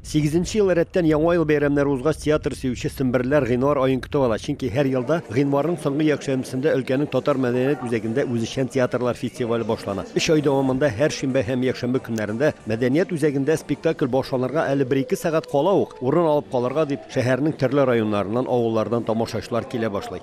Сигезенче ел рәттән Яңа ел бәйрәмнәре узгач, театр сөюче семберләр гыйнвар аен көтеп ала, чөнки һәр елда гыйнварның соңгы якшәмбесендә өлкәнең татар мәдәният үзәгендә үзешчән театрлар фестивале башлана. Өч ай дәвамында һәр шимбә һәм якшәмбе көннәрендә мәдәният үзәгендә спектакль башланырга әле бер-ике сәгать кала ук, урын алып калырга дип, шәһәрнең төрле районнарыннан, авыллардан тамашачылар килә башлый.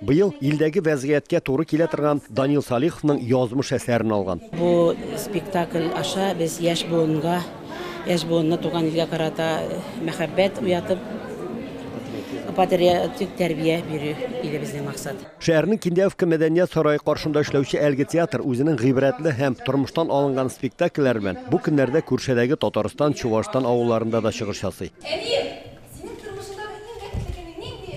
Быел илдәге вәзгыятькә туры килә торган Данил Салиховның язмыш әсәрен алган. Бу спектакль аша без яшь буынга, яшь буынны туган илгә карата мәхәббәт уятып, патриотик тәрбия бирү иде безнең максат. Шәһәрнең Киндяевка мәдәният сарае каршында эшләүче әлеге театр үзенең гыйбрәтле һәм тормыштан алынган спектакльләре белән бу көннәрдә Күршедәге Татарстан, Чуашстан авылларында да чыгыш ясый. Әнием, синең тормышыңдагы иң рәхәтле көнең нинди?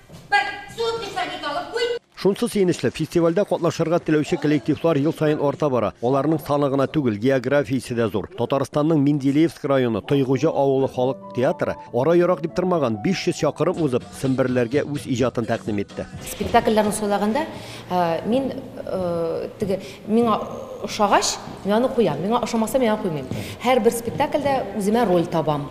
Бер суткы сәгыйть алып куй! Шунсы сөенечле, фестивальдә катнашырга теләүче коллективлар ел саен арта бара. Аларның саны гына түгел, географиясе дә зур. Татарстанның Менделеевск районы Тойгуҗа авылы халык театры, ара ерак дип тормаган, 500 чакырым узып, семберләргә үз иҗатын тәкъдим итте. Спектакльләрне сайлаганда мин теге Миңа ошагач, мин аны куям. Миңа ошамаса, мин аны куймыйм. Һәрбер спектакльдә үземә роль табам.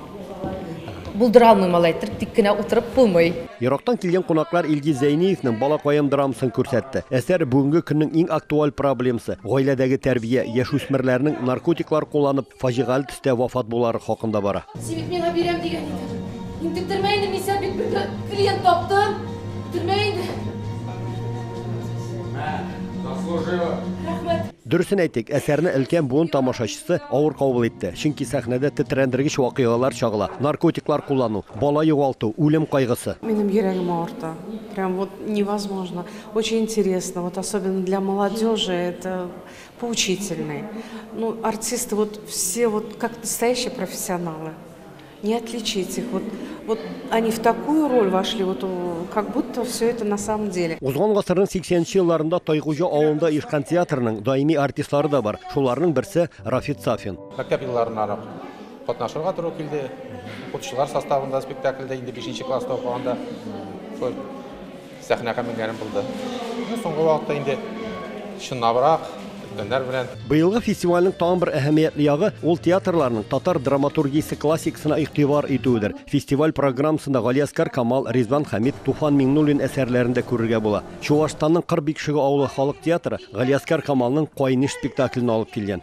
Булдыра алмыйм алай иттереп, тик кенә утырып булмый. Ерактан килгән кунаклар Илгиз Зәйниевның Балакаем драмасын күрсәтте. Әсәр бүгенге көннең иң актуаль проблемасы, гаиләдәге тәрбия, яшүсмерләрнең наркотиклар кулланып, Фаҗигале төстә вафат булулары хакында бара. Син бит миңа бирәм дигән идең. Интектермә инде, мин сәл бит бер клиент таптым. Төрмә инде. Мә, заслужила. Рәхмәт. Дөресен әйтик, әсәрне өлкән буын тамашачысы авыр кабул итте, чөнки сәхнәдә тетрәндергеч вакыйгалар чагыла, наркотиклар куллану, бала югалту, үлем кайгысы. Минем йөрәгем авырта. Прям вот невозможно. Очень интересно, вот особенно для молодежи это Поучительный. Ну, артисты вот все вот как настоящие профессионалы. Не отличить их. Вот, вот они в такую роль вошли, вот как будто все это на самом деле. Узган гасырның 80-нче елларында Тайгужа авылында Ишкан театрының даими артистлары да бар. Шуларның берсе Рафит Сафин. Мәктәп елларына рак катнашырга туры килде. Укытучылар составында спектакльдә инде 5-нче класста укыганда Сәхнәгә менгәнем булды. Соңгы вакытта инде чынлабрак, өлкәннәр белән. Быелгы фестивальнең тагын бер әһәмиятле ягы, ул театрларның татар драматургиясе классикасына игътибар итүедер. Фестиваль программасында Галиәскар Камал, Ризван Хәмит, Туфан Миңнуллин әсәрләрен дә күрергә була. Чуашстанның Кыр Бикшеге авылы халык театры Галиәскар Камалның Кайнеш спектаклен алып килгән.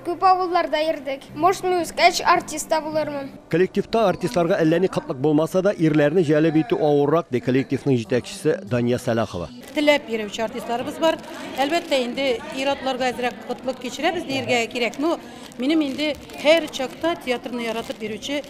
Күп авылларда йөрдек. Может, мин үскәч артист та булырмын. Коллективта артистларга әллә ни кытлык булмаса да, ирләрне җәлеп итү авыррак, ди коллективның җитәкчесе Дания Сәлахова. Теләп йөрүче артистларыбыз бар. Әлбәттә, инде ир-атларга әзрәк кытлык кичерәбез диергә кирәк. Но минем инде һәр чакта театрны яратып йөрүче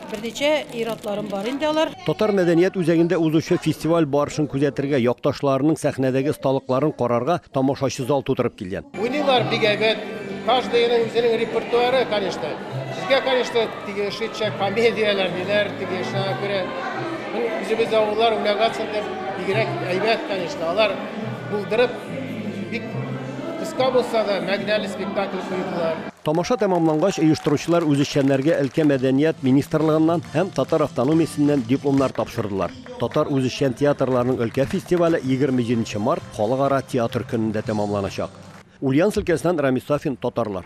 Берничә ир-атларым бар инде алар. Татар мәдәният үзәгендә узучы фестиваль барышын күзәтергә, якташларының сәхнәдәге осталыкларын карарга тамашачы зал тутырып килгән. Уйныйлар бик әйбәт. Каждыйның үзенең репертуары, конечно. Безгә, конечно, тиешенчә комедияләр, ниләр, тиешенә күрә. Үзебез авыллар, Улягацин дип, бигрәк әйбәт, конечно. Алар булдырып, бик кыска булса да, мәгънәле спектакль куйдылар. Тамаша тәмамлангач, оештыручылар үзешчәннәргә өлкә мәдәният министрлыгыннан һәм татар автономиясеннән дипломнар тапшырдылар. Татар үзешчән театрларының өлкә фестивале егерме җиденче март, Халыкара театр көнендә тәмамланачак. Ульяновск өлкәсеннән Рамис Сафин, татарлар.